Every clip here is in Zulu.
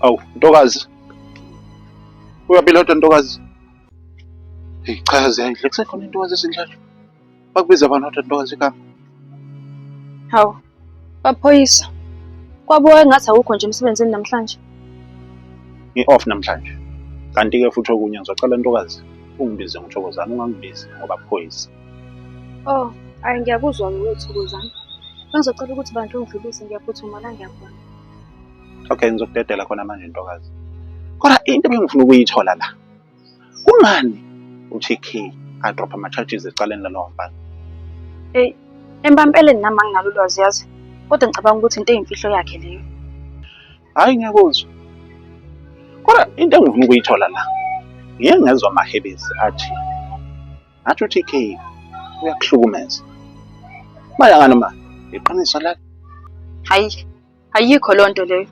Awu, ntokazi. Uyaphila kodwa ntokazi. Hey, cha ziyayidla kusekhona intokazi esinjalo. Bakubiza abantu kodwa ntokazi igama. Hawu, baphoyisa. Kwabuka engathi awukho nje emsebenzini namhlanje. Ngi-off namhlanje. Kanti-ke futhi okunye ngizocela ntokazi ungibize ngithokozana ungangibizi ngoba phoyisa. Oh, hayi ngiyakuzwa-ke wethokozana. Bengizocela ukuthi bantu ungidlulise ngiyaphuthuma la ngiyakhona. Okay, ngizokudedela khona manje ntokazi. Kodwa into ebengifuna ukuyithola la. Kungani uTK adrop ama charges ecaleni lalowo mfana? Hey, empampeleni nami anginalo ulwazi yazi. Kodwa ngicabanga ukuthi into eyimfihlo yakhe leyo. Hayi ngiyakuzwa. Kodwa into engifuna ukuyithola la. Ngiyengezwa amahebezi athi ngathi uTK uyakuhlukumeza maya ngani ma iqiniso la hayi ayikho loo nto leyo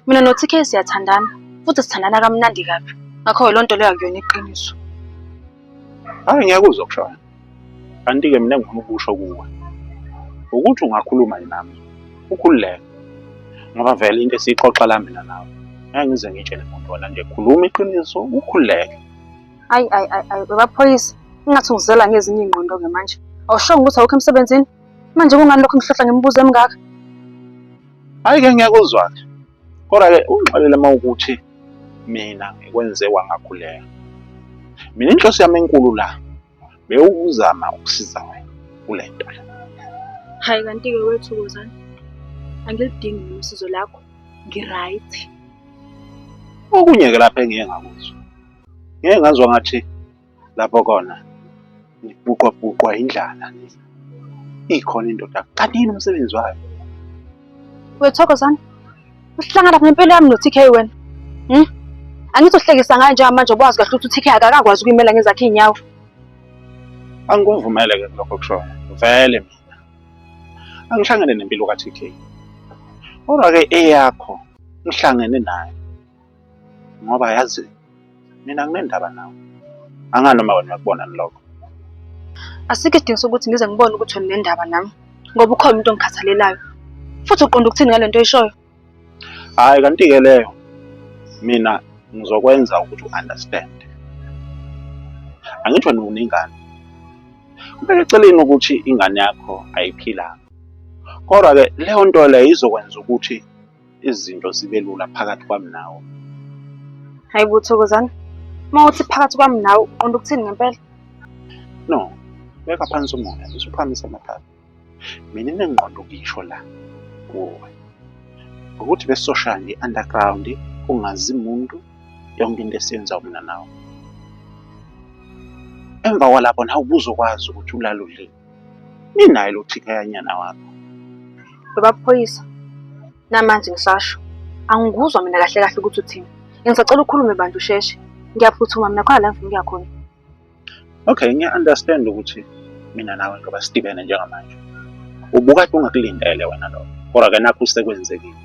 mina noTK siyathandana futhi sithandana kamnandi kabi ngakho loo nto leyo akuyona iqiniso hayi ngiyakuzwa kushona kanti-ke mina ngifuna ukusho kuwe ukuthi ungakhuluma nami ukhululeke ngoba vele into esiyixoxa la mina nawe ngeke ngize ngitshele muntu wona nje khuluma iqiniso ukhululeke Ayi ayi ayi ayi webaphoyisa ingathi ungizela ngezinye iy'ngqondo-ke manje. Awushongo ukuthi awukho emsebenzini? Manje kungani lokho ngihlohla ngemibuzo emingaka? Hhayi-ke ngiyakuzwa-ke. Kodwa-ke ungixolele uma ukuthi mina ngikwenze wangakhuleka. Mina inhloso yami enkulu la bewukuzama ukusiza wena kule nto le. Hhayi kanti-ke wethukozani angilidingi mina usizo lakho, ngi-right. Okunye-ke lapha engiye ngakuzwa. ngeke ngazwa ngathi lapho kona ngibuqwa buqwa indlala ikhona indoda kanti yini umsebenzi wayo wethokozana uhlangana ngempilo yami no-tk wena hmm? angizohlekisa ngayo njengamanje obawazi kahle ukuthi u-tk akakakwazi ukuyimela ngezakhe iy'nyawo angikuvumele ke lokho kushoyo vele mina angihlangene nempilo ka-tk kodwa-ke eyakho ngihlangene nayo ngoba yazi mina nginendaba nawe angani uma wena uyakubona nilokho asikho isidingo sokuthi ngize ngibone ukuthi wena unendaba nami ngoba ukhona umuntu ongikhathalelayo futhi uqonda ukuthini ngale nto oyishoyo hhayi kanti-ke leyo mina ngizokwenza ukuthi u-understand angithi wena unengane kubeka eceleni ukuthi ingane yakho ayiphilanga kodwa-ke leyo nto leyo izokwenza ukuthi izinto zibe lula phakathi kwami nawe. Hayi bo Thokozani, uma uthi phakathi kwami nawe uqonda ukuthini ngempela? No, beka phansi umoya bese uphakamisa amathatha. Mina enengqondo ukuyisho la kuwe ukuthi besizoshaya nge-underground ungazi muntu yonke into esiyenza mina nawe. Emva kwalapho nawe ubuzokwazi ukuthi ulalulile. ninaye lo chikhayanyana wakho babaphoyisa namanje ngisasho angikuzwa mina kahle kahle ukuthi uthini ngisacela ukhulume bantu usheshe ngiyaphuthuma mina khona la ngifuna ukuya khona okay ngiya-understand ukuthi mina nawe ngoba sidibene njengamanje ubukade ungakulindele wena lo kodwa ke nakho usekwenzekile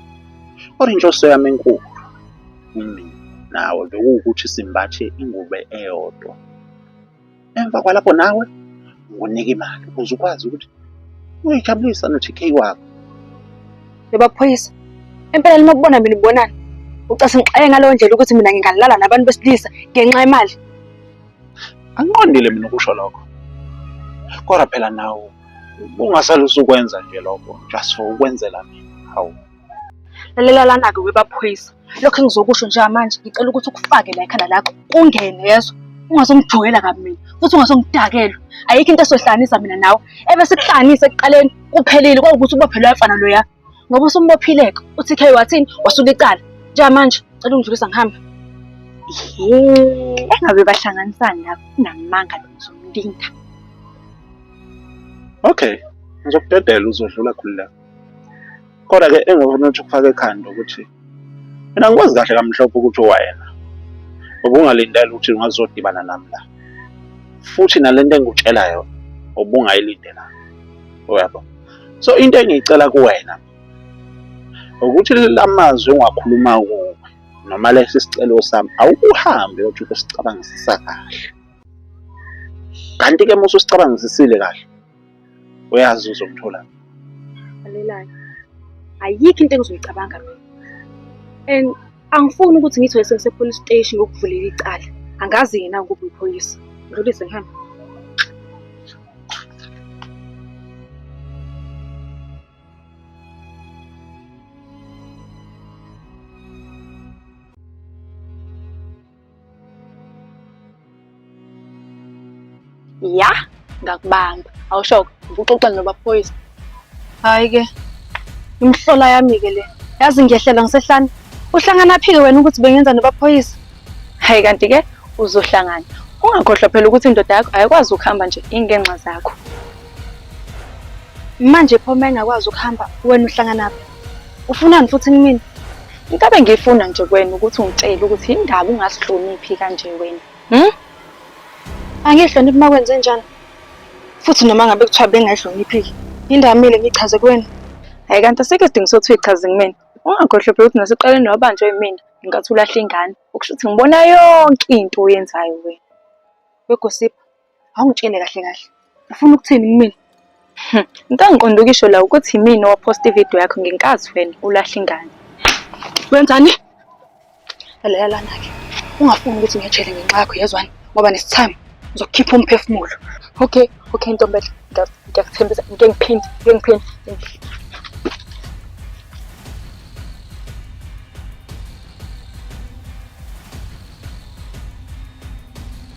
kodwa inhloso yami enkulu kumina nawe bekuwukuthi simbathe ingubo eyodwa emva kwalapho nawe unginike imali ukuze ukwazi ukuthi uyijabulisa no-TK wakho. Yebo phoyisa, empela noma kubona mina ubonani ucase ngixaye ngaleyo ndlela ukuthi mina ngingalala nabantu besilisa ngenxa yemali. Angiqondile mina ukusho lokho, kodwa phela nawe ungasalusa ukwenza nje lokho just for ukwenzela mina, hawu. lalela lana-ke webaphoyisa lokho engizokusho njengamanje ngicela ukuthi ukufake la ekhanda lakho kungene yezo ungazongijwayela kabi mina futhi ungazongidakelwa ayikho into esohlanganisa mina nawe ebe sikuhlanganise ekuqaleni kuphelile kwawukuthi ubophelwe yafana loya ngoba usumbophileka uthi khe wathini wasuka icala njengamanje cela ungidlulisa ngihambe engabe bahlanganisani lapho unamanga lo ngizomlinda okay ngizokudedela uzodlula khulu lapho Kodwa-ke engifuna ukuthi ukufake ekhanda ukuthi mina ngikwazi kahle kamhlophe ukuthi wayena ubungalindela ukuthi ngazodibana nami la futhi nalento engikutshela yona ubungayilindela uyabo so into engiyicela kuwena ukuthi lamazwi ongakhuluma kuwe noma lesi sicelo sami awukuhambe uthi ukusicabangisisa kahle kanti ke musu sicabangisisile kahle uyazi uzomthola alelayo ayikho into engizoyicabanga mina and angifuni ukuthi ngithi wesese police station ngokuvulela icala angazi yena ngoba uyiphoyisa ngilise ngihambe ya ngakubamba awushoke ngibuxoxa nobaphoyisa hayi ke imhlola yami ke le yazi ngiyehlela ngisehlane uhlangana phike wena ukuthi bengenza nobaphoyisa hayi kanti ke uzohlangana ungakhohlwa phela ukuthi indoda yakho ayikwazi ukuhamba nje ingenxa zakho manje pho uma engakwazi ukuhamba wena uhlanganaphi ufunani futhi kumina into abengiyifuna nje kwena ukuthi ungitshele ukuthi yindaba ungasihloniphi kanje wena hmm? angiyihloniphi uma kwenze njani futhi noma ngabe kuthiwa bengayihloniphiki yindaba mile ngichaze kwena hayi kanti asikho isidingo sokuthi uyichaze kumina ungakhohlwe phela ukuthi naseqaleni wabanjwa yimina ngenkathi ulahla ingane okusho ukuthi ngibona yonke into oyenzayo wena begosipha Awungitshele kahle kahle. Ufuna ukuthini kumina? Hmm, into engiqonda ukisho la ukuthi yimina owaphosta ividiyo yakho ngenkazi wena ulahle ingane. Wenzani? Lalela lana-ke. Ungafuni ukuthi ngiyejele ngenxa yakho yezwani ngoba nesithami ngizokukhipha umphefumulo. Okay, okay ntombela. Ngiya- Ngiyakuthembisa ngike ngiphinde, ngike ngiphinde.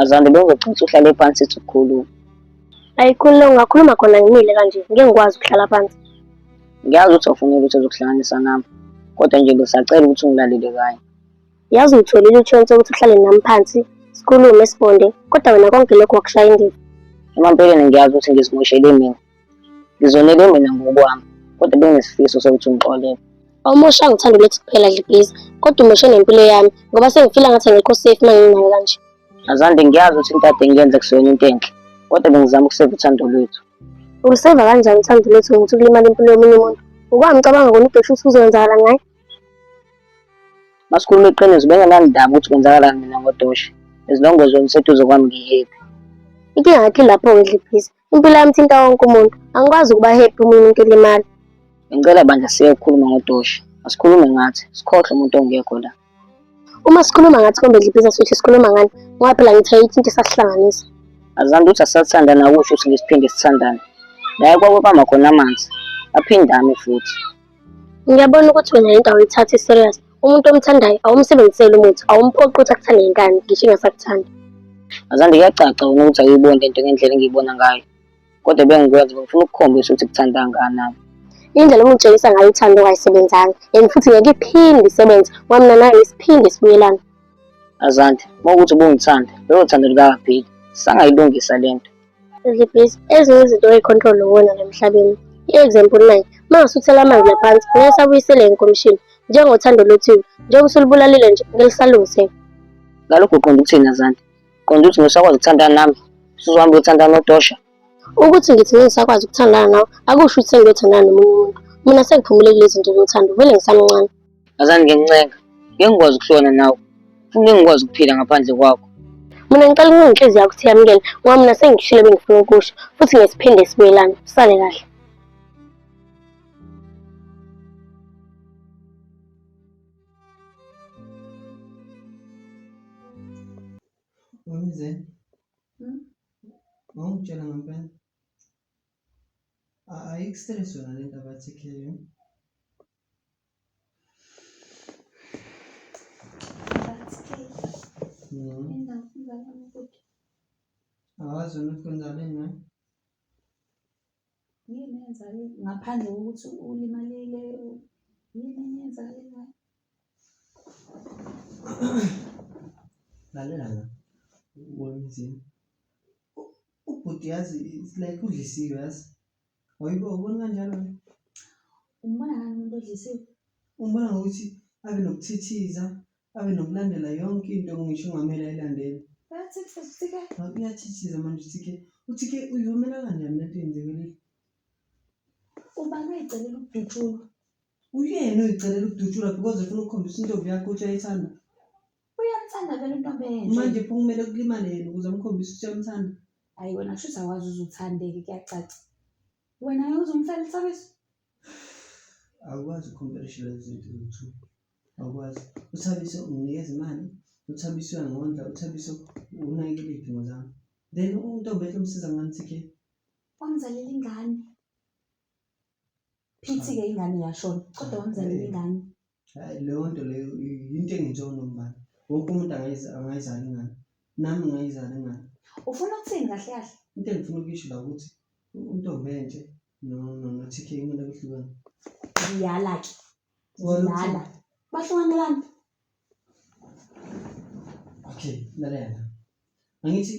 Azande bengizoxoxa uhlale phansi sithi ukukhuluma. Ayikhulule ungakhuluma khona ngimile kanje ngeke ngikwazi ukuhlala phansi. Ngiyazi ukuthi awufuni ukuthi uzokuhlanganisa nami kodwa nje besacela ukuthi ungilalele kanye. Yazi uyitholile ichance ukuthi uhlale nami phansi sikhulume sibonde kodwa wena konke lokho wakushaya indiva. Emampeleni ngiyazi ukuthi ngizimoshele mina Ngizonele mina ngokwami, kodwa bengisifiso sokuthi ungixolele. Awumosha ngithanda ulethe kuphela nje please. Kodwa umoshe nempilo yami ngoba sengifila ngathi angikho safe uma nginayo kanje. Azande ngiyazi ukuthi into kade ngiyenza kuseyona into enhle, kodwa bengizama ukuseva uthando lwethu. Uluseva kanjani uthando lwethu ngokuthi kulimala impilo yomunye umuntu? Ngokwami ngicabanga kona ubheshu ukuthi kuzokwenzakala ngaye. Masikhuluma iqiniso bengenandaba ukuthi kwenzakalani mina ngodoshi. As long as wena useduze kwami ngihappy. Inkinga yakhe lapho-ke dliphisa. Impilo yami thinta wonke umuntu. Angikwazi ukuba happy uma umuntu ulimala. Ngicela bandla siye ukukhuluma ngodoshi. Asikhulume ngathi, sikhohle umuntu ongekho la. Uma sikhuluma ngathi kombe dliphiza sithi sikhuluma ngani, ngoba phela ngithe yithi into esasihlanganisa. Azanti uthi asathandana akusho ukuthi ngisiphinde sithandane. La ekwakubamba khona amanzi, aphindame futhi. Ngiyabona ukuthi wena into awuyithathi serious. Umuntu omthandayo awumsebenziseli umuthi, awumphoqi ukuthi akuthande ngenkani, ngisho ingasakuthandi. Azande kuyacaca wena ukuthi awuyiboni le nto ngendlela engiyibona ngayo. Kodwa bengikwenza ngifuna ukukhombisa ukuthi kuthanda kangakanani. Indlela omutshengisa ngayo uthando kayisebenzanga and futhi ngeke iphinde isebenze ngoba mina nawe isiphinde sibuyelana. Azande, uma ukuthi ubungithanda, lelo thando likakapheli. Sangayilungisa le nto. Please, ezinye izinto oyi-control uwona la emhlabeni. I-example nayi, uma ngasuthela amanzi la phansi, ngeke sabuyisele inkomishini. Njengothando lwethiwe, njengoba usulubulalile nje, ngeke lisalungiseka. Ngalokho uqonda ukuthini Azanti? Uqonda ukuthi ngisakwazi ukuthandana nami? Usuzohamba uyothandana nodosha? Ukuthi ngithi ngeke ngisakwazi ukuthandana nawe, akusho ukuthi sengiyothandana nomunye umuntu. Mina sengiphumelele kulezi zinto zothando, vele ngisamncane. Ngazani ngencenga. Ngeke ngikwazi ukuhlona nawe. Futhi ngeke ngikwazi ukuphila ngaphandle kwakho. Mina ngicela ukuba inhliziyo yakho siyamukele ngoba mina sengikushilo bengifuna ukusho futhi ngesiphinde sibuyelane. Usale kahle. Wemzeni. Hmm? Wawungitshela ngempela. Ayikustress yona lento abathi ikhileyo. Awazi ukuthi kwenzakeni na? Yini eyenzakele ngaphandle kokuthi ulimalile? Yini enye eyenzakelayo? Lalela la. Ubona izini. Ubhuti yazi it's like udlisiwe yazi. Wayibo ubona kanjalo wena? Umbona ngani umuntu odlisiwe? Umbona ngokuthi abe nokuthithiza, abe nokulandela yonke into ngisho ungamele ayilandele. Uyathithiza uTK. Ngabe uyathithiza manje uTK. UTK uyivumela kanjani lento yenzekile? Ubani oyicelela ukudutshulwa? Uyena oyicelela ukudutshulwa because ufuna ukukhombisa intombi yakho ukuthi uyayithanda. Uyakuthanda vele into abenje. Manje pho kumele kulimale yena ukuze amkhombise ukuthi uyamthanda. Hayi wena kusho ukuthi awazi uze uthandeke kuyacaca. Wena ngeke uze umfele isabiso. Awukwazi ukukhompethisha lezi zinto zithu. Awukwazi. Uthabiso unginikeza imali, uthabiso uyangondla, uthabiso unakekela iy'dingo zami. Then untombi ehle umsiza ngani TK? Wamzalela ingane. Phithi-ke ingane yashona, kodwa wamzalela ingane. Hhayi leyo nto leyo yinto engenziwa unombani. Wonke umuntu angayizala ingane. Nami ngingayizala ingane. Ufuna ukuthini kahle kahle? Into engifuna ukuyisho la ukuthi untombi enhle no-TK kumele kuhlukane. Ngiyala-ke. Ngiyala. Bahlukanelani? Okay, lalela. Angithi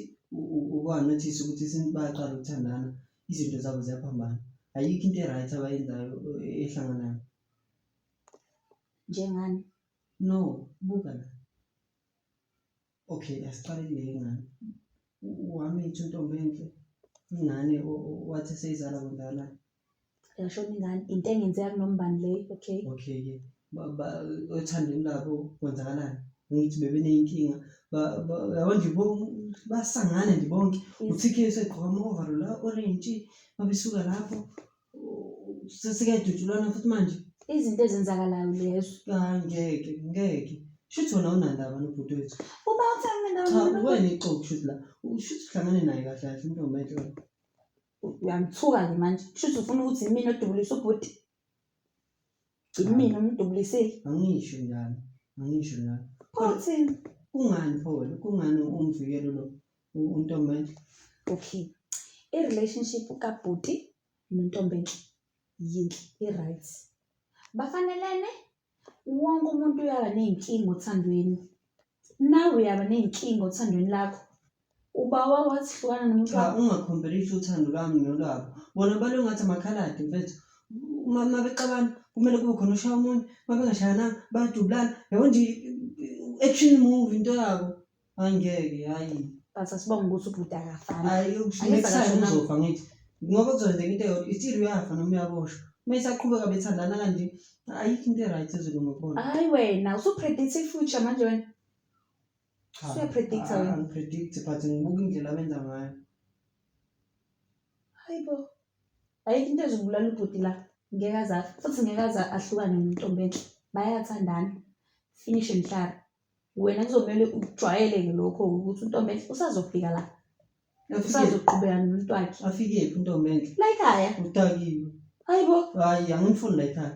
ukwanathisa ukuthi since bayaqala ukuthandana izinto zabo ziyaphambana. Ayikho into e-right abayenzayo ehlanganayo. Njengani? No, buka la. Okay, asiqale kule ingane. Uhamba ithi untombi enhle. Ingane wathi seyizala kundala. Yashona ingane. Into engenzeka kunombani le, okay? Okay ke. Baba othandweni labo kwenzakalani? Ngithi bebeneyinkinga. Ba yabo nje basangane nje bonke. UTK usegqoka ama-overall la orange, babesuka lapho sesikadutshulwana futhi manje izinto ezenzakalayo lezo hayi ngeke ngeke shuthi wona unandaba nobhuti wethu uba uthanga cha ndawo uwena ixoki shuthi la shuthi uhlangane naye kahle kahle intombi enhle wena. uyangithuka-ke manje kushuthi ufuna ukuthi yimina odubulisa ubhuti yimina omdubulisile angisho njalo angisho njalo pho uthini kungani pho wena kungani umvikelo lo untombeni okay i-relationship kabhuti nontombeni yinhle i-right bafanelene wonke umuntu uyaba ney'nkinga othandweni nawe uyaba ney'nkinga othandweni lakho uba wabo wathi hlukana nomuntu cha wakho ungakhombelisi uthando lwami nolwabo bona balo ngathi amakhaladi mfethu uma uma bexabana kumele kube khona oshaya omunye uma bengashayananga bayadubulana yabo nje i-action movie into yabo Angeke hayi. But asibonga ukuthi ubhuti akafani. Hayi Angithi next time akashonanga. uzofa ngithi. Ngoba kuzokwenzeka into eyodwa ithiru uyafa noma uyaboshwa. Uma isaqhubeka bethandana kanje ayikho into e-right ezolunga kubona. Hayi wena usupredict i-future manje wena. Cha, Usuyapredict-a ah, wena. angipredict but ngibuka indlela abenza ngayo. Hayi bo. Ayikho into ezobulala ubhuti la. Ngeke aza futhi ngeke aza ahlukane nentombi enhle. Bayathandana. Finish and clap. wena kuzomele ukujwayele-ke lokho ukuthi untombenhle usazofika la usazoqhubeka nomuntu wakhe afikephi untombenhle la ekhaya udakiwe hayi bo hayi angimfuni la ekhaya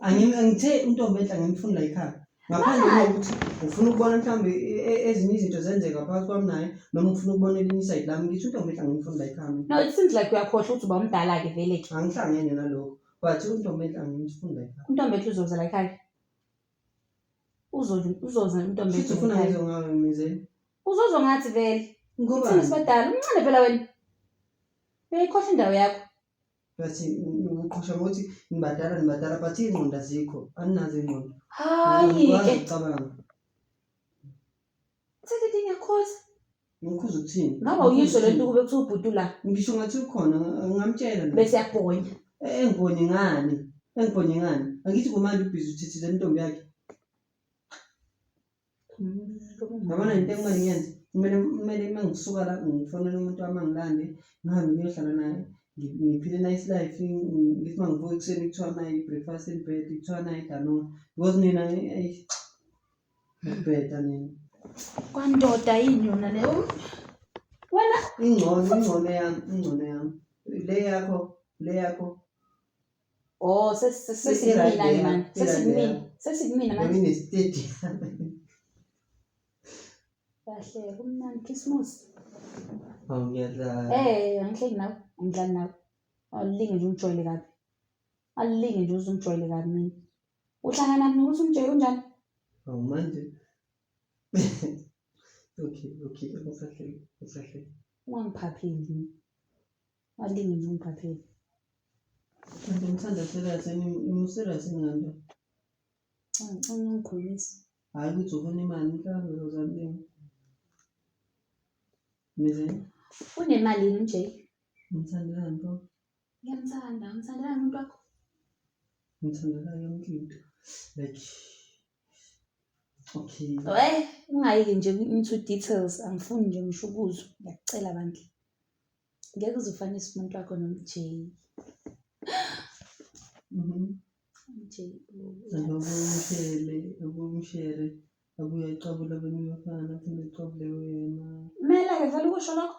Angim- angithe untombenhle angimfuni la ekhaya ngaphandle Why? kokuthi ngifuna ukubona mhlawumbe e- e- ezinye izinto zenzeka phakathi kwami naye noma ngifuna ukubona elinye isayidi lami ngithi untombenhle angimfuni la ekhaya mina. no it seems like uyakhohlwa ukuthi uba umdala-ke vele-ke angihlangene nalokho but untombenhle angimfuni la ekhaya untombenhle uzoza la ekhaya Uzo- uzoza intombi Futhi ufuna ekhaya. ngizwe ngawe mizeni. uzozwa ngathi vele uthini Ngobani? sibadala umncane phela wena uyayikhohlwa indawo yakho Bathi ngiqhosha ngokuthi ngibadala ngibadala but iy'ngqondo azikho. Aninazo iy'ngqondo. hayi Angikwazi ke ukucabanga. Sithethe ngiyakhoza. Ngikhuza ukuthini? Ngaba uyisho le nto kube kuthiwa ubhuti la Ngisho ngathi ukhona ngamtshela mina. bese yabhonya. Eh, Engibone ngani? Engibone ngani? Angithi kumanje ubhizi uthithile intombi yakhe. Yabona into ekumele ngiyenze. Kumele kumele uma ngisuka la ngifonele umuntu wami angilande ngihambe ngiyohlala naye. ngi- Ngiphile nice life ngi- ngi- ngithi uma ngivuka ekuseni kuthiwa nayi breakfast in bed kuthiwa nayi danoa. Because mina eh, eyi, Ngibheda nini? Kwandoda yini yona leyo? Wena Ingcono, ingcono yami, ingcono yami. Le yakho, le yakho. Oh, ses- ses- Sisi sesimina right there, mani. sisi right Sesimina. there. Sesimina Yona manje. inestedi. Kahle, kumnandi Christmas. Awu ngiyadlala. Eh, angihleki nawe. Angidlali nawe. Alinge nje ungijwayele kabi. Alinge nje uzungijwayele kabi mina. Uhlangana mina ukuthi umjoyi unjani? Awu manje. Okay, okay, usahleli, usahleli. Ungangiphapheli. Walingi nje ungiphapheli. Kanti ngithanda serious, ngimuserious ngani? Cha, ngicela ungikhulise. Hhayi ukuthi ufuna imali, mhlawumbe uzamlinga. Mizeni, Unemali yini uJay? ngithandelani pho? Ngiyamthanda, ngithandela umuntu wakho. Ngithandela yonke into. Like Okay. Wey, ungayiki nje into details angifuni nje ngisho ukuzwa. Ngiyakucela bandla. Ngeke uze ufanise umuntu wakho noMJ. Mhm. MJ. Ababomshele, abomshele, abuye aqabule abanye abafana aphinde aqabule wena. Kumele-ke vele ukusho lokho.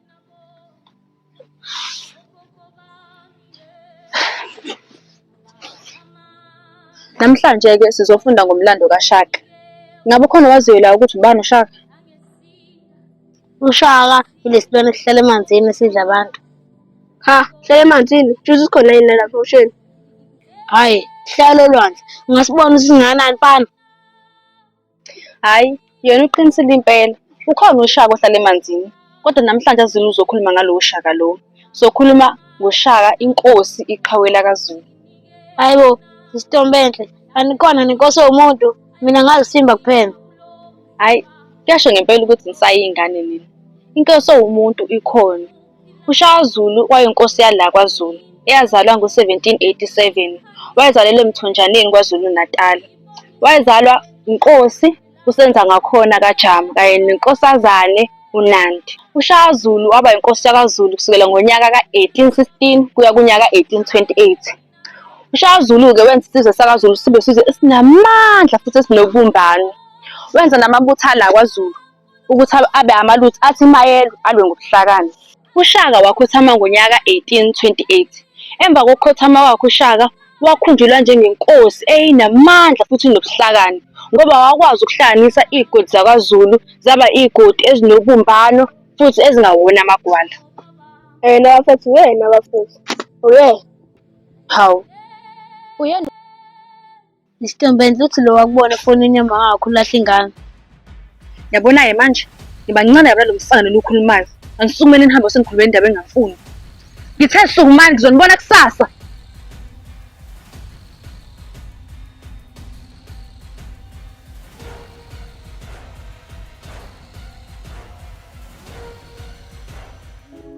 Namhlanje-ke sizofunda ngomlando kaShaka. Ngabe ukhona owaziyo la ukuthi ubani uShaka? UShaka yilesilwane esihlala emanzini esidla abantu. Ha, hlala emanzini, juzi sikhona yini lapha osheni? Hhayi, hlala olwandle. Ungasibona ukuthi singanani mfana? Hhayi, yena uqinisile impela. Ukhona uShaka ohlala emanzini. Kodwa namhlanje aZulu uzokhuluma ngalowo Shaka lowo. Sokhuluma ngoShaka inkosi iqhawe lakaZulu. Hhayi bo, Sisitombenhle, anikona nenkosi yomuntu, mina ngazisimba kuphela. Hhayi, kuyasho ngempela ukuthi nisayiy'ngane nina. Inkosi ewumuntu ikhona. UShaka Zulu wayinkosi yala kwaZulu eyazalwa ngo-1787. Wayezalelwa eMthonjaneni KwaZulu-Natal. Wayezalwa uNkosi uSenzangakhona kaJama kanye neNkosazane uNandi. UShaka Zulu waba yinkosi yakwaZulu kusukela ngonyaka ka-1816 kuya kunyaka ka-1828. UShaka Zulu-ke wenza isizwe sakwaZulu sibe isizwe esinamandla futhi esinobumbano. Wenza namabutho ala kwaZulu ukuthi abe amalutho athi mayelwe alwe ngobuhlakani. UShaka wakhothama ngonyaka 1828. Emva kokukhothama kwakhe uShaka wakhunjulwa njengenkosi eyinamandla futhi nobuhlakani ngoba wakwazi ukuhlanganisa iy'godi zakwaZulu zaba iy'godi ezinobumbano futhi ezingawona amagwala. Yena bafethu uyena bafethu uyena hawu uyena. Isitombendla uthi lo wakubona efonini yama wakho ulahle ingane. Yabona-ke manje ngibancane yabona lo mfana lona ukhulumayo. Anisukumele nihambe usenikhulumela indaba engafuni. Ngithe sukumani ngizonibona kusasa.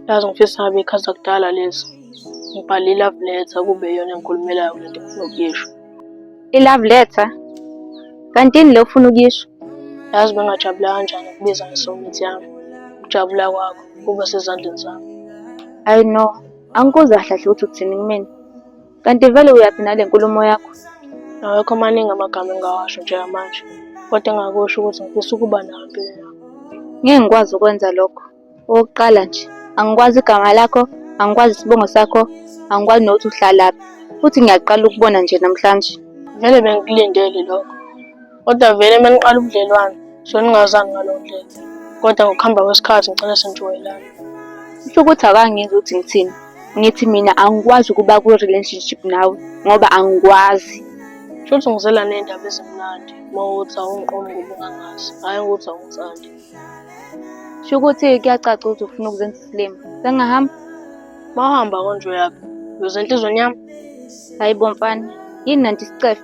Yazi ngifisa ngabe ikhaza kudala lezi. Ngibhale i-love letter kube yona engikhulumelayo kule nto ngifuna ukuyisho. I-love letter? Kantini le ufuna ukuyisho? Yazi bengajabula kanjani ukubiza ngesomithi yami. Ukujabula kwakho kuba sezandleni zami. Ayi no, angikuzwa kahle ukuthi uthini kumina. Kanti vele uyaphi nale nkulumo yakho? Awekho amaningi amagama engingawasho njengamanje, kodwa engakusho ukuthi ngifisa ukuba nawe empilweni yakho. Ngeke ngikwazi ukwenza lokho. Okokuqala nje, angikwazi igama lakho, angikwazi isibongo sakho, angikwazi nokuthi uhlalaphi. Futhi ngiyaqala ukubona nje namhlanje. Vele bengikulindele lokho. Kodwa vele uma niqala ubudlelwane so ningazani ngaleyo ndlela kodwa ngokuhamba kwesikhathi ngicela senijwayelane kusho ukuthi akangenzi ukuthi ngithini ngithi mina angikwazi ukuba kwi-relationship nawe ngoba angikwazi kusho ukuthi ngizela ney'ndaba ezimnandi uma ukuthi awungiqomi ngoba ungangazi hhayi ukuthi awungithandi kusho ukuthi kuyacaca ukuthi ufuna ukuzenza isilima sengingahamba uma uhamba konje uyaphi uyozenhlizweni yami hhayi bomfana yini nanti isicefe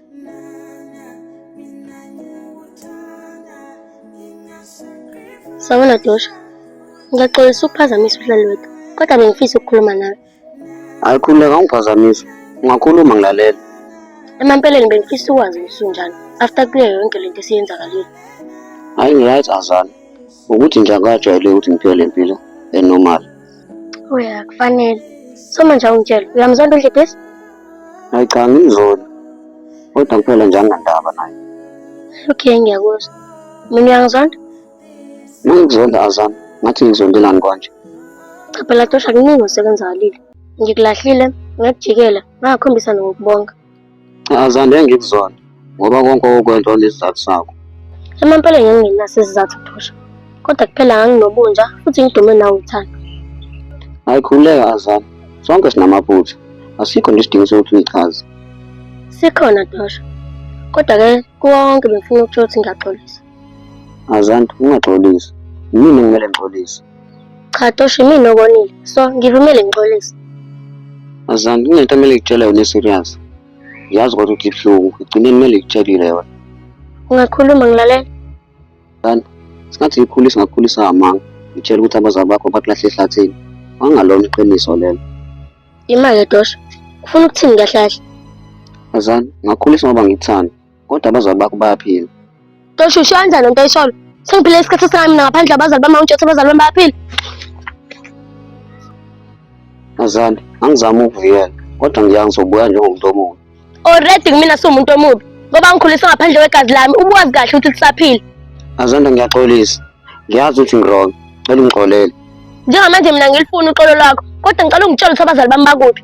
Sawona Dosha, ngiyaxolisa ukuphazamisa uhlelo lwethu kodwa bengifisa ukukhuluma nawe. Hayi khululeka ungiphazamisa, ungakhuluma ngilalela. Emampeleni bengifisa ukwazi ukuthi unjani after kuyo yonke le nto esiyenzakalile. Hayi ngi-right azana ukuthi nje akajwayele ukuthi ngiphile le mpilo enormal. Uya kufanele. Soma nje awungitshela. Uyamzonda uDlibhisi? Hayi cha ngimzona. Kodwa kuphela nje anginandaba naye. Okay ngiyakuzwa. Mina uyangizonda? Nangikuzonda Azam, ngathi ngizondelani konje. Cha phela Tosha kuningi osekwenzakalile. Ngikulahlile ngakujikela ngakhombisa nokubonga. Azande ngikuzona ngoba konke okwento nesizathu sakho. Emampeleni ngingenaso isizathu phusha. Kodwa kuphela nganginobunja futhi ngidume nawe uthando. Ayikhululeka Azana. Sonke sinamaphutha. Asikho nje isidingo sokuthi nichaze. Sikhona Dosha. Kodwa ke kuwo wonke bengifuna ukutshela ukuthi ngiyaxolisa. Azanti ungaxolisi. Yini ngimele ngixolise? Cha Tosho imina okonile. So ngivumele ngixolise. Azanti kunento kumele ngikutshele yona serious. Yazi kodwa ukuthi ibuhlungu. Igcine kumele ngikutshelile yona. Ungakhuluma ngilalela. Kanti singathi ngikhulisa ngakhulisa amanga. Ngitshela ukuthi abazali bakho bakulahle ehlathini. Wangalona iqiniso lelo. Imake Tosho. Ufuna ukuthini kahle kahle? Azanti ngakhulisa ngoba ngikuthanda. Kodwa abazali bakho bayaphila. Tosho usho kanjani lento oyisholo? Sengiphile isikhathi esingaka mina ngaphandle abazali bami awungitshothi abazali bami bayaphila. Azali, angizami ukuvikela kodwa ngiyazi ngizobuya njengomuntu omubi. Already kumina siwumuntu omubi ngoba ngikhuliswe ngaphandle kwegazi lami ubuwazi kahle ukuthi lisaphila. Azanda ngiyaxolisa. Ngiyazi ukuthi ngirong. Cela ungixolele. Njengamanje mina ngilifuna uxolo lwakho kodwa ngicela ungitshele ukuthi abazali bami bakuphi.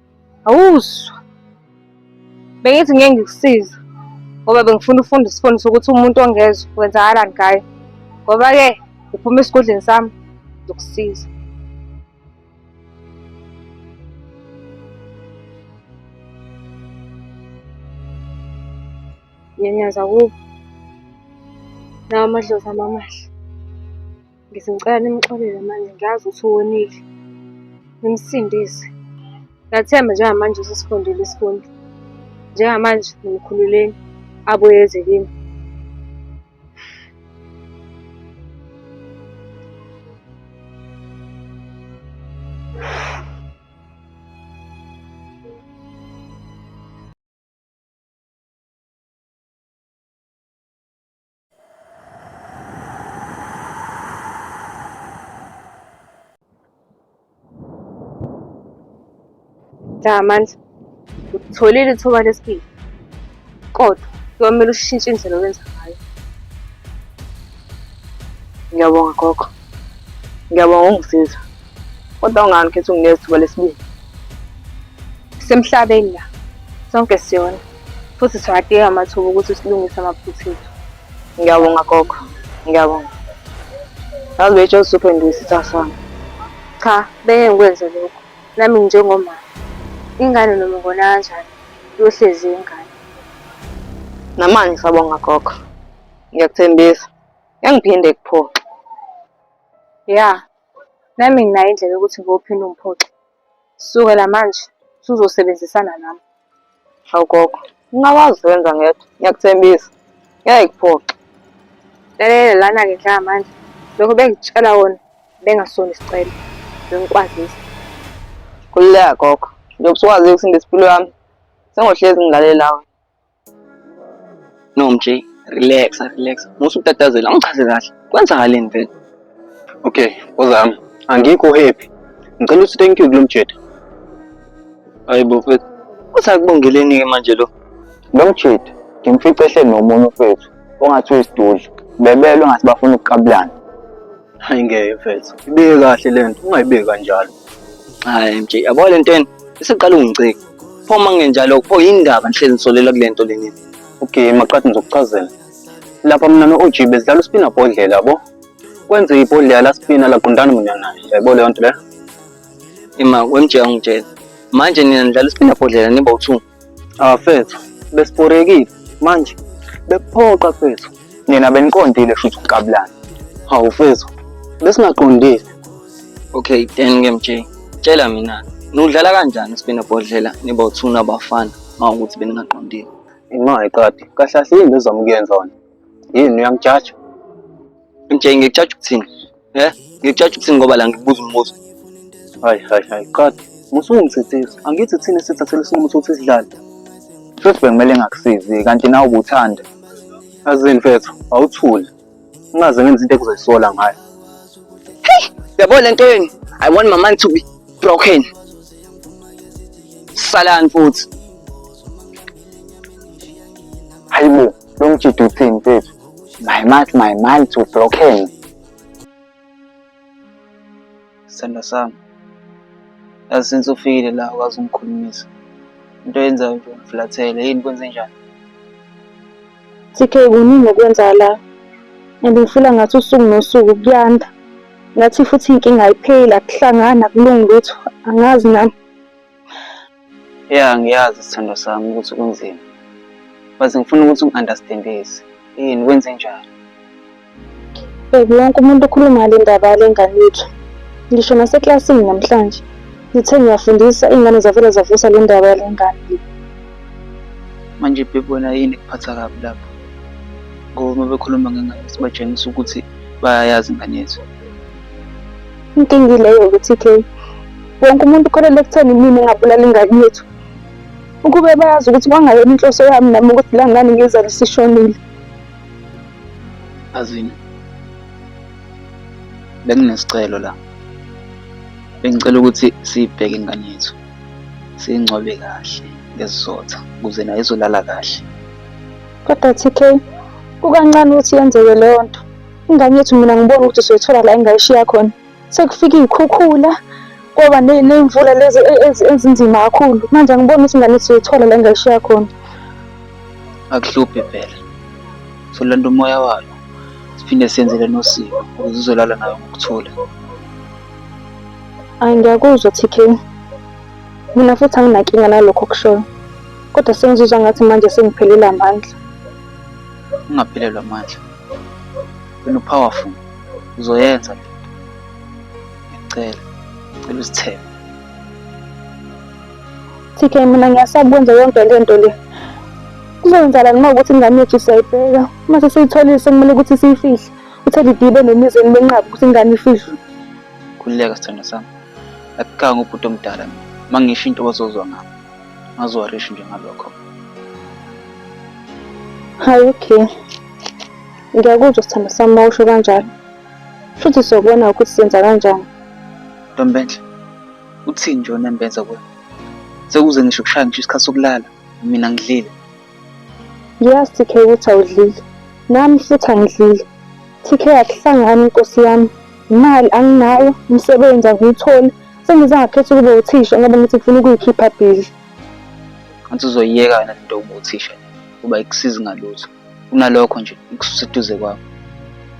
Awuzwa. Bengithi ngeke ngikusize ngoba bengifuna ufunda isifundo sokuthi umuntu ongezwa kwenzakalani ngaye. Ngoba-ke uphuma esigodleni sami ngizokusiza. Nyanyaza kubo. Lawa amadlozi ami amahle. Ngithi ngicela nimxolele manje ngiyazi ukuthi wonile. Nimsindise. Ngiyathemba njengamanje usesifundile isifundo. Njengamanje nimkhululeni abuye eze kimi. Cha manje utholile ithuba lesibili kodwa kuyomele ushintshe indlela owenza ngayo. Ngiyabonga gogo, ngiyabonga ungisiza kodwa ungani khethi unginikeza ithuba lesibili. Semhlabeni la sonke siyona. futhi siwadinga amathuba ukuthi silungise amaphutha ethu ngiyabonga gogo ngiyabonga yazi betshe usuphenduka isitha sami cha beke ngikwenze lokho nami njengomama ingane noma ngona kanjani yohlezi ingane namanje sabonga gogo ngiyakuthembisa ngiphinde kuphoxa ya nami nginayo indlela yokuthi ngophinda umphoxa Kusukela manje usuzosebenzisana nami. Hawu gogo, ungakwazi ukwenza ngedwa, ngiyakuthembisa. Ngeke kuphoxe. Lalela lana-ke Dlakamandla, lokho bengikutshela wona bengasona isicelo, bengikwazisa. Khululeka gogo, njengoba usukwazile ukusinda isimpilo yami, sengohlezi ngilalele nawe. No mj, relax, relax. Musa utatazela, angichaze kahle. Kwenzakaleni vele? Okay, ozami. Angikho happy. Ngicela uthi thank you kulomjeda. Hayibo mfethu. Usakubongeleni ke manje lo? Lomjeda ngimfice ehleli nomunye mfethu ongathi uyisidudla. Bebelwe ngathi bafuna ukuqabulana. Hayi ngeke mfethu, ibeke kahle le nto, ungayibeki kanjalo. Hayi MJ, yabo le nto yena isiqala ungicika. Pho uma kungenjalo, pho yini ndaba nihlezi nisolela kule nto leni? Okay, maqadi ngizokuchazela. Lapha mina no-OG besidlala uspina bhodlela yabo. Kwenze ibhodlela la spina laqondana mina naye. Yayibona leyo nto leyo? Ima, weMJ angitshela. Manje nina nidlala ispina bhodlela niba u-two. Abafethu ah, besiporekile manje bekuphoqa fethu. Nina beniqondile shuthi ukuqabulana. Hawu fethu besingaqondile. Okay, then ke mjay. Tshela mina nudlala kanjani sibina bhodlela niba uthuna abafana mawukuthi beningaqondile. Imali qadi kahle kahle yini bezama ukuyenza wena? Yini uyangijaja? Mjay ngijaja ukuthini? Eh, ngikujaja ukuthini ngoba la ngikubuza umbuzo. Hayi hayi hayi qadi. Musungithethisa. Angithi thina sithathele isinqumo sokuthi sidlale. Futhi bekumele ngakusizi kanti nawe ubuthanda. Azini mfethu, awuthule. Ungaze ngenze into ekuzoyisola ngayo. Yabo le nto yenu. I want my mind to be broken. Salani futhi. Hayibo. lo mjidi uthini mfethu my mind my mind to blockeni sithanda sami yazi since ufikile la ukwazi ungikhulumisa into yenzayo nje ungiflathele yini kwenze njani CK kuningi okwenza la and ngifila ngathi usuku nosuku kuyanda ngathi futhi inkinga ayipheli akuhlangani akulungi lutho angazi nami Ya ngiyazi sithandwa sami ukuthi kunzima. But ngifuna ukuthi ungi-understandise. Yini wenze njani? Baby wonke umuntu ukhuluma ngale ndaba yale ngane yethu. Ngisho naseklasini namhlanje. Ngithe ngiyafundisa iy'ngane zavele zavusa le ndaba yale ngane le. Manje baby wena yini ekuphatha kabi lapho? Ngoba uma bekhuluma ngengane sibatshengisa ukuthi bayayazi ingane yethu. Inkinga ileyo ukuthi ke wonke umuntu ukholelwa ekutheni imina engabulala ingane yethu. Ukube bayazi ukuthi kwangayona inhloso yami nami ukuthi la ngane ngizale sishonile. Azini. Benginesicelo la. Bengicela ukuthi sibheke ingane yethu. Singcwabe kahle ngesizotha ukuze naye izolala kahle. Kodwa TK kukancane ukuthi yenzeke leyo nto. Ingane yethu mina ngibona ukuthi soyithola la engayishiya khona. Sekufika iy'khukhula, kwaba ney'mvula lezi e, e, ezinzima kakhulu. Manje angiboni ukuthi ingane yethu soyithola la engayishiya khona. Akuhluphe phela. Solanda umoya wayo. Siphinde senzele nosiko ukuze uzolala nayo ngokuthula. Ayi ngiyakuzwa TK. Mina futhi anginankinga nalokho okushoyo. Kodwa sengizizwa ngathi manje sengiphelile amandla. Ungaphelelwa amandla. wena upowerful uzoyenza le ngicela ngicela uzithembe TK mina ngiyasaba ukwenza yonke le nto le kuzoyenzakalani uma ukuthi ingane yethu siyayibheka uma sesiyitholile sekumele ukuthi siyifihle uthe lidibe nemizeni benqaba ukuthi ingane ifihlwe khululeka sithando sami akukanga ubhuti omdala mina uma ngisho into bazozwa ngami ngaziwarishi nje ngalokho hayi okay ngiyakuzwa sithando sami uma usho kanjalo futhi siyobona ukuthi senza kanjani ntombenhle uthini nje onembenza kuwe sekuze ngisho kushaya ngisho isikhathi sokulala mina ngidlile ngiyazi tk ukuthi awudlile nami futhi angidlile tk akuhlangani nkosi yami imali anginayo umsebenzi angiwutholi Sengize ngakhetha ukuba uthisha ngoba ngithi ngifuna ukuyikhipha busy. Anti uzoyiyeka yona lento yokuba uthisha kuba ikusizi ngalutho. Kunalokho nje ikususa eduze kwakho.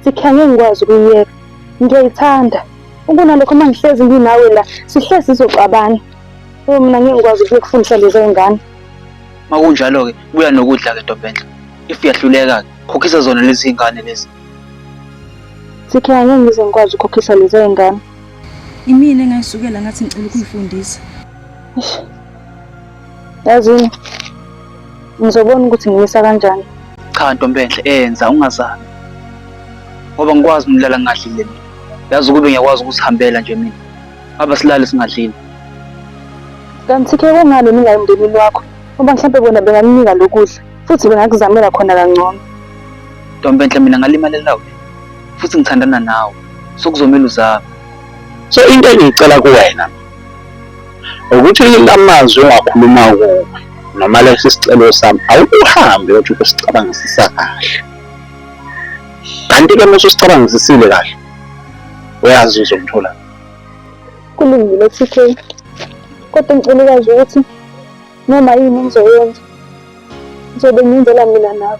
Sikhe ngeke ngikwazi ukuyiyeka. Ngiyayithanda. Ukunalokho uma ngihlezi nginawe la sihlezi sizoxabana. Oh mina ngeke ngikwazi ukufundisa lezi ngane. Makunjalo ke buya nokudla ke Ntombenhle. If uyahluleka ke khokhisa zona lezi ngane lezi. Sikhe ngeke ngize ngikwazi ukukhokhisa lezi ngane. Imina engayisukela ngathi ngicela ukuyifundisa. Yazini. Ngizobona ukuthi ngimisa kanjani. Cha ntombenhle enza ungazami. Ngoba ngikwazi umlala ngadlile mina. Yazi ukube ngiyakwazi ukusihambela nje mina. Aba silale singadlile. Kanti ke kungani ningayi emndenini wakho? Ngoba mhlawumbe bona bengakunika lokudla futhi bengakuzamela khona kangcono. Ntombenhle mina ngalimalela wena. futhi ngithandana nawe so kuzomele uzame so into engiyicela kuwena ukuthi lamazwi ongakhuluma kuwe noma lesi sicelo sami awukuhambe yothi ukusicabangisisa kahle kanti-ke mase usicabangisisile kahle uyazi uzomthola kulungile TK kodwa ngicela ukwazi ukuthi noma yini engizoyenza ngizobe ngiyenzela mina nawe